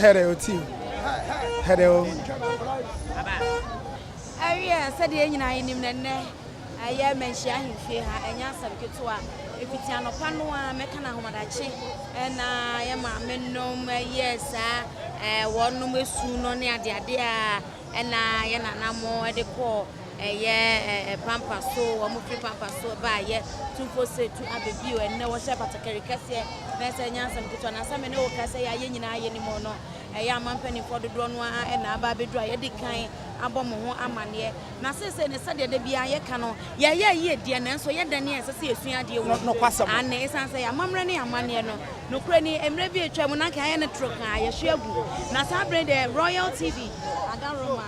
Hello, team. Hello. Awie sɛdeɛ nyinaa yɛnim no nnɛ Ɛyɛ manhyia ahemfie ha, ɛnyɛ asɛm ketewa. Ɛfiti anɔpa no ara mɛka no ahomadakye na yɛ maame nom yɛ saa ɛɛ wɔn nom esu no ne adeade a ɛna yɛ nana mo ɛde kɔ ɛyɛ ɛɛ pampa so wɔn firi pampa so ɛba yɛ tumfo se tu abɛbi o ɛnɛ wɔhyɛ batakari kɛseɛ na ɛsɛ ɛnyɛ asɛm ketewa na sɛ me ne wo ka sɛ yɛ ayɛ nyinaa yɛ nim no ɛyɛ ama mpanimfoɔ dodoɔ no ara ɛna aba abɛduru a yɛde kan abɔ mo ho amaneɛ Na seesei ne sɛdeɛ da biara yɛka no, yɛyɛɛ yie deɛ, nanso yɛn dɛ ne a ɛsɛ sɛ yɛsua adeɛ wɔ mu. Aane, esiane sɛ yɛn amammerɛ ne yɛn amanneɛ no, nokorɛ ni, mmerɛ bi a atwaa mu no anka yɛayɛ no toro kaa, yɛahwe agu. Na saa berɛ yi deɛ, Royal TV ada Roma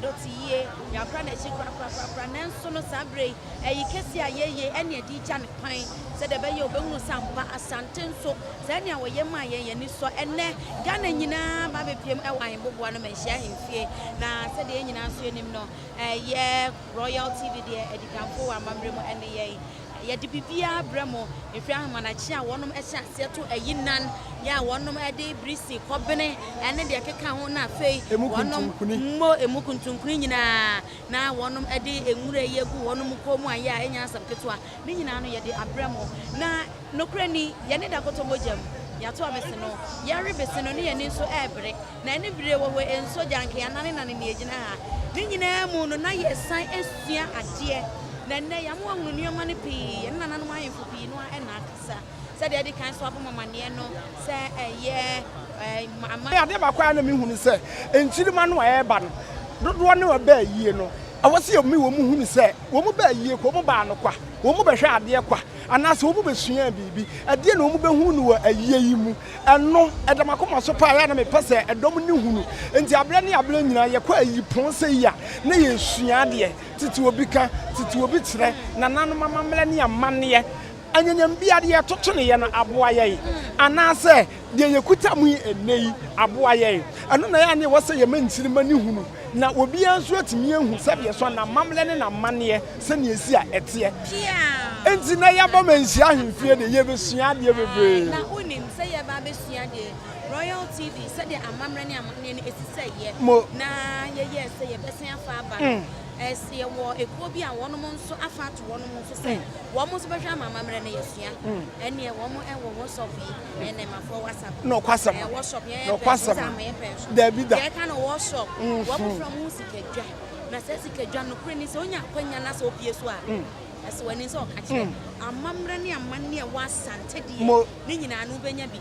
dɔte yie, yɛakora no akyi korakorakorakora, nanso no saa berɛ yi, ayi kɛseɛ a yɛayi ɛne ɛde regya no kwan, sɛdeɛ ɛbɛyɛ a wɔbɛhunu sɛ ampa Asante nso Sɛnea wɔyɛ maa yɛn yɛn ani sɔ. Ɛnnɛ, Ghana nyinaa ba bepiam wɔ Ahemboboa no Manhyia Ahemfie, na sɛdeɛ yɛn nyinaa nso nim no, ɛyɛ Royal TV deɛ adikanfoɔ wɔ amammerɛ mu ne yɛn. Yɛde biribiara brɛ mo, ɛfiri ahemanakye a wɔnom hyɛ aseɛ to ayinnan, yɛ a wɔnom de biri si kɔbene ne deɛ ɛkeka ho, na afei wɔnom mmɔ emu kuntunkuni nyinaa, na wɔnom de nwura yi agu wɔnom kɔn mu a, yɛ a ɛnyɛ asɛm ketewa. Ne nyinaa no yɛde abrɛ mo. Na nokorɛ ni, yɛne da kɔtɔ mogya mu, yɛato abese no, yɛre bese no, ne yɛani nso rebere, na ani bereɛ wɔ hɔ nso, gya anka yɛanane nane nea ɛgyina ha. Ne nyinaa mu no, na yɛresan asua adeɛ, na ɛnnɛ, yɛama wɔahunu nneɛma no pii, yɛne nananom ahemfo pii no ara na akasa. Sɛdeɛ adi kan so abɔ mo amaneɛ no, sɛ ɛyɛ ama. Adeɛ baako a na me hu ne sɛ, nkyirimma no a ɛreba no, dodoɔ no a ɛbaa yie no, ɛwɔ sɛ yɛme wɔn hunu sɛ, wɔn baa yie kwa, wɔn baa no kwa, wɔn bɛhwɛɛ adeɛ kwa, anaa sɛ wɔn bɛsuaa biribi. Ɛdeɛn na wɔn bɛhunu no wɔ ayie yi mu? Ɛno, ɛda m'akoma so paa, ɛyɛ a na mepɛ sɛ ɛdɔm no hunu. Enti aberɛ ne aberɛ nyinaa, yɛkɔ ayiyipɔn sɛ yi a, na yɛresua adeɛ. Tete obi ka, tete obi kyerɛ, nananom amammerɛ ne amanneɛ. Anyanyam bi a deɛ yɛtotonoeɛ no aboa yɛn, anaasɛ deɛ yɛkuta mu yi ɛnnɛ yi aboa yɛn. Ɛno na ɛyɛ a na ɛwɔ sɛ yɛma nkyirimma no hunu, na obiara nso atumi ahu sɛdeɛ so n'amammerɛ ne n'amanneɛ sɛdeɛ ɛsi a ɛteɛ. Enti na yɛba ma nhyira ahemfie deɛ, yɛbɛsua adeɛ bebree. Na wonim sɛ yɛba abɛsua deɛ Royal TV sɛdeɛ amammerɛ ne amanneɛ no ɛsi sɛ yɛ, na yɛyɛɛ sɛ yɛbɛsan afa aba no. Ɛseɛ wɔ ekuo bi a wɔnom nso afa ato wɔnom nso sɛ wɔnom nso bɛhwɛ ama amammerɛ no yɛsua ɛneɛ wɔnom ɛwɔ workshop yi ɛnɛ mafoɔ wasap nokwasɛm ɛɛ workshop yɛn yɛ pɛn so ama yɛ pɛn so dabi da yɛka no workshop wɔmofra mu sikadwa na sɛ sikadwa no kore ni sɛ onya akwanya na sɛ opie so a ɛsɛ w'ani sɛ ɔka kyerɛ amammerɛ ne amanne ɛwɔ asante deɛ ne nyinaa no wobɛnya bi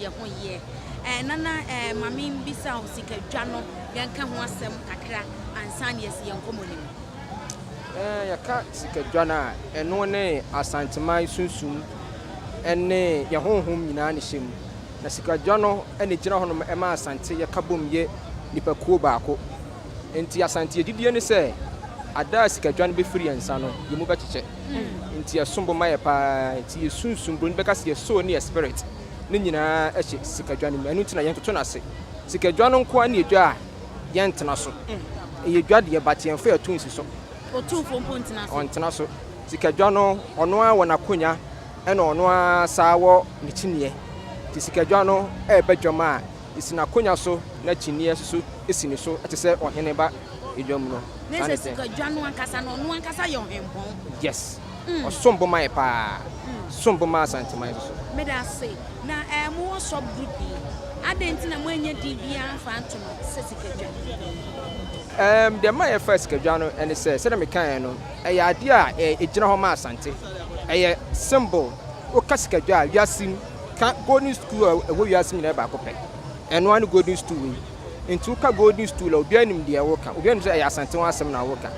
yɛ ho yɛ. Ɛɛ Nana, ɛɛ ma menbisa wo sikadwa no, yɛnka ho asɛm kakra ansa na yɛasi yɛn nkɔmmɔ no mu. Ɛɛ Yɛka sikadwa no a, ɛno ne Asanteman sunsum ne yɛn honhom nyinaa na ɛhyɛ mu. Na sikadwa no na ɛgyina hɔnom ma Asante yɛka bom yɛ nnipakuo baako. Enti Asante gyidie ne sɛ ada a sika dwa no bɛfiri yɛn nsa no, yɛn mu bɛkyekyɛ. Enti ɛsom bo ma yɛn pa ara. Enti yɛn sunsum, Buroni bɛka sɛ yɛn soul ne yɛn spirit, ne nyinaa hyɛ sika dwa no mu. Ɛno nti na yɛntoto no ase. Sika dwa no nko ara ne dwa a yɛntena so. Ɛyɛ dwa deɛ but yɛmfa yɛn to nsi so. Otumfoɔ mpo ntena so. Ɔntena so. Sika dwa no, ɔno ara wɔ n'akonya ɛna ɔno ara saa wɔ ne kyiniiɛ. Nti sika dwa no ɛreba dwam a, Si n'akonwa so na kyiniiɛ soso si ne so te sɛ ɔhene ba dwa mu no. Ne sɛ sika dwa no ankasa no ɔno ankasa yɛ ɔhempɔn. Yes ɔsom bo ma yɛ paa ɔsom bo ma asanteman nso so. Meda ase. Na ɛɛ mo wɔ sub group yi adɛn nti na mo anyɛ din biara amfa anto no sɛ sika dwa? Ɛɛm deɛ ɛma yɛfaa sika dwa no ɛne sɛ sɛdeɛ me kaeɛ no ɛyɛ adeɛ a ɛɛ ɛgyina hɔ ma asante ɛyɛ symbol woka sika dwa a wiase mu. Ka golden stool a ɛwɔ wiase nyinaa baako pɛ. Ɛno ara ne golden stool yi. Nti woka golden stool a, obiara nim deɛ woreka. Obiara nim sɛ ɛyɛ Asante ho asɛm na woreka.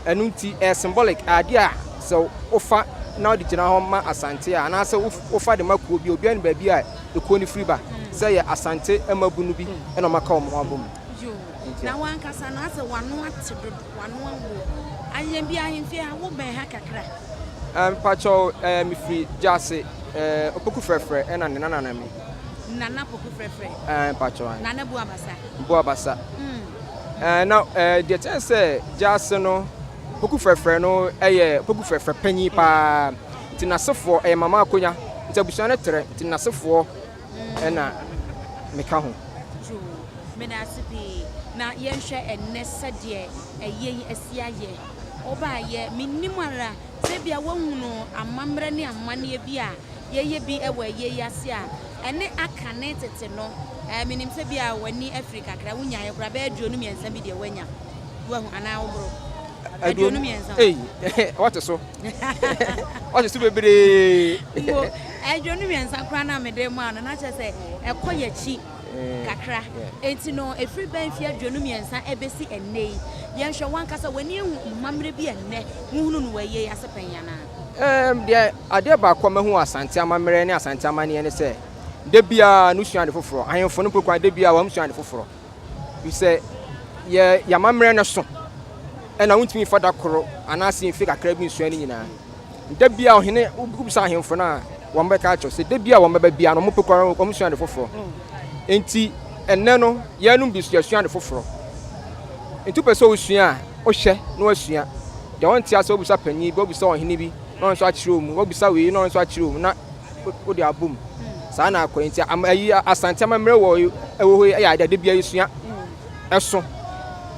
Ɛno nti, ɛyɛ symbolic, adeɛ a sɛ wofa na wode gyina hɔ ma Asante a, anaasɛ wofa de ma kuo bi a, obiara nim baabi a ekuo no firi ba. Sɛ ɛyɛ Asante mmabunu bi na wɔaka wɔn ho abom. Yoo, na w'ankasa no, asɛ w'ano ate dodo, w'ano awo. Ayɛn bi ahemfie ha, wobɛn ha kakra. Ɛɛ mpakyɛw ɛɛ mefiri Gyase ɛɛ Opoku Frɛfrɛ ɛna ne nana na me. Nana Poku Frɛfrɛ. Ɛɛ mpakyɛw ɛɛ. Nana Boa Basa. Boa Basa. Mm. Ɛɛ na ɛɛ deɛ kyɛn sɛ Gyase no Poku Frɛfrɛ no ɛyɛ Poku Frɛfrɛ panyin paa nti n'asefoɔ ɛyɛ Mama Akonya nti abusua no trɛ nti n'asefoɔ na meka ho. True. Meda ase pii. Na yɛnhwɛ ɛnnɛ sɛdeɛ ɛyɛ yi asi ayɛ. Wobaeɛ, mennim ara sɛ ebia woahunu amammerɛ ne amanneɛ bi a yɛyɛ bi wɔ ɛyɛ yi ase a ɛne aka ne tete no. Ɛɛ, menim sɛ ebia w'ani afiri kakra, wonyaeɛ koraa, bɛyɛ aduonu mmiɛnsa bi deɛ woanya. Woahu anaa woboro? Aduonu mmiɛnsa. Ei, ɔte so. Ɔte so bebree. Mpo aduonu mmiɛnsa koraa na mede maa no, na kyerɛ sɛ ɛkɔ yɛakyi eh, kakra. Enti no, ɛfiri bɛn mfeɛ aduonu mmiɛnsa ɛbɛsi ɛnnɛ yi? Yɛnhwɛ wankasa, w'ani ahu mmammerɛ bi a ɛnnɛ wohunu no wɔ ayie yi ase pɛn anaa? Um, deɛ adeɛ baako a mahu wɔ Asante amammerɛ ne Asante amanneɛ ne sɛ, da biara no sua ade foforɔ. Ahemfo no mpo kwan, da biara wɔn sua ade foforɔ. Efisɛ yɛ yɛn amammerɛ no so, ɛnna wontumi mfa da koro anaasɛ mfe kakra bi nsua ne nyinaa. Da biara ɔhene, wobisa ahemfo no a, wɔbɛka akyerɛ wo sɛ da biara wɔbɛba biara no, wɔpɛ kora wɔsua ade foforɔ. Enti ɛnnɛ no, yɛnom bi nso yɛasua ade foforɔ. Enti wopɛ sɛ wosua a, wohwɛ na woasua. Deɛ wonte ase wobisa panyin bi, wobisa ɔhene bi na ɔno nso akyerɛ wo mu, wobisa wei na ɔno nso akyerɛ wo mu na wode abɔ mu. Saa na akɔ nti ama ayi Asante amammerɛ wɔ ɛwɔ hɔ yi yɛ adeɛ da bia yɛsua ɛso.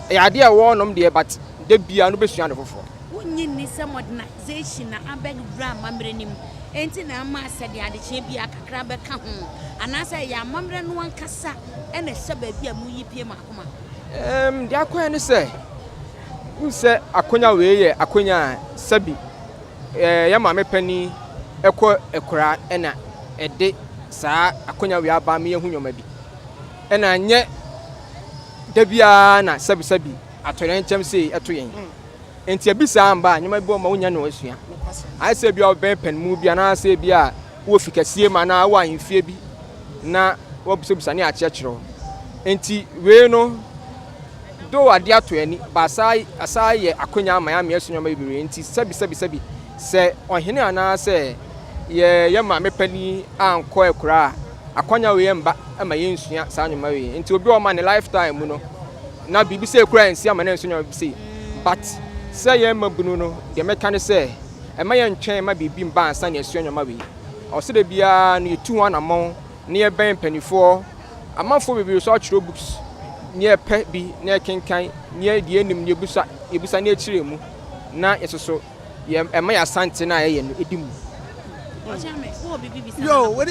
Ɛyɛ adeɛ a ɛwɔ nom deɛ but da bia no bɛsua ade foforɔ. Wonnye nni sɛ modernization na abɛwura amammerɛ no mu enti na ama asɛdeɛ adekyeɛ bia kakra bɛka ho anaasɛ ɛyɛ amammerɛ no ankasa na ɛhyɛ baabi a moyi pie mo akoma? Um, deɛ akɔyɛ ne sɛ, wohu sɛ akonya wei yɛ akonya a sɛbi Yɛn maame panin kɔ akuraa ɛna ɛde saa akonya wei aba me yɛ hu nneɛma bi ɛna nyɛ dabiaa na sɛbi sɛbi atɔyɛ nkyɛm sei ɛto yɛn nti ɛbi saa mba nneɛma bi ɔma wonya no asua ayɛ sɛ bia ɔbɛn pɛn mu bi anaasɛ bi a wɔ fi kɛseɛ ma na wɔ ahemfie bi na wɔbisabisa ne akyerɛkyerɛ nti wei no Though ade ato ani, Baasai asan ayɛ akwanya ama yɛamee so nneɛma bebree nti, sɛbisɛbisɛbi, sɛ ɔhene anaasɛ yɛn maame panin ankɔ akuraa a, akwanya wei mma ma yɛnsua saa nneɛma wei. Nti obi a ɔma ne lifetime mu no, na biribi sei koraa nsi ama no ansu nneɛma bi sei. But sɛ yɛn mmabunu no, deɛ mɛka ne sɛ, mma yɛntwɛn mma biribi mba ansa na yɛasua nneɛma wei. Ɛwɔ sɛ da biara no yɛtu ho anammɔn. na yɛbɛn mpaninfoɔ, amanfoɔ bebree so atwerɛ books na yɛpɛ bi na yɛkenkan na yɛ deɛ yɛnim no yɛbusa yɛbusa na yɛkyerɛ mu na yɛsoso yɛ ɛma yɛ asante no a yɛyɛ no ɛdi mu. Yo, wode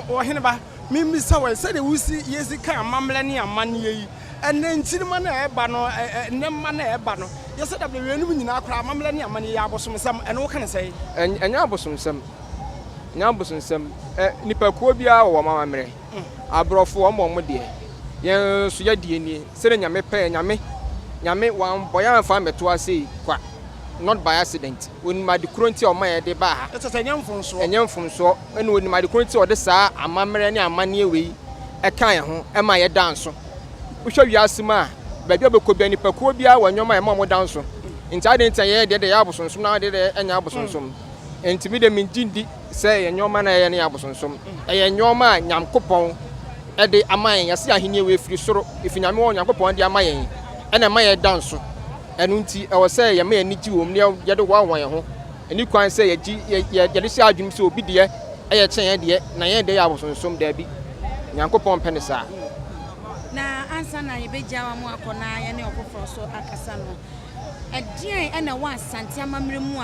ɔhene ba, memmisa wɔ sɛdeɛ wosi yɛsi ka amammerɛ ne amanneɛ yi, ɛnɛ nkyirima no a ɛba no, ɛnɛ mma no a ɛba no, yɛsɛ da bɛn wienom nyinaa koraa amammerɛ ne amanneɛ yɛ abosomsɛm, ɛno woka no sɛn? Ɛnyɛ abosomsɛm. Ɛnyɛ abosonsɛm. Ɛ, nnipakuo biara wɔ wɔn amammerɛ. Aborɔfo, wɔn bɔ wɔn deɛ. Yɛn nso, yɛdeɛ nie, sɛdeɛ Nyame pɛɛ. Nyame, Nyame, Wambɔ yɛn amfa ammɛto ha sei kwa. Not by accident. Onim ade korɔ nti a Ɔma yɛde baa ha. Ɛsɛ sɛ ɛnyɛ mfomsoɔ. Ɛnyɛ mfomsoɔ. Ɛna Onim ade korɔ nti a Ɔde saa amammerɛ ne amanneɛ wei ka yɛn ho ma yɛda nso. Wohwɛ wiase mu a, baabi a wobɛkɔ biara, nnipakuo biara wɔ nneɛma a ɛma wɔda nso. Nti adɛn nti na yɛn deɛ deɛ ɛyɛ abosonsom na wɔn deɛ deɛ ɛnyɛ abosonsom? Enti me de mengye ndi sɛ ɛyɛ nnoɔma no a ɛyɛ ne yɛ abosonsom. Ɛyɛ nnoɔma a Nyankopɔn de ama yɛn. Yɛse ahennie wei firi soro, ɛfiri Nyame hɔ, Nyankopɔn de ama yɛn, ɛna ɛma yɛda nso. Ɛno nti ɛwɔ sɛ yɛma yɛn ani gye wɔ mu na yɛde hoahoa yɛn ho. Ɛnni kwan sɛ yɛde hyɛ adwene mu sɛ obi deɛ yɛ kyɛn yɛn deɛ, na yɛn deɛ yɛ abosonsom. Daabi, Nyankopɔn mpɛ no saa. Na ansa na yɛbɛgya wɔn akɔ na yɛne ɔfoforɔ nso akasa no, ɛdeɛn na ɛwɔ Asante amammerɛ mu a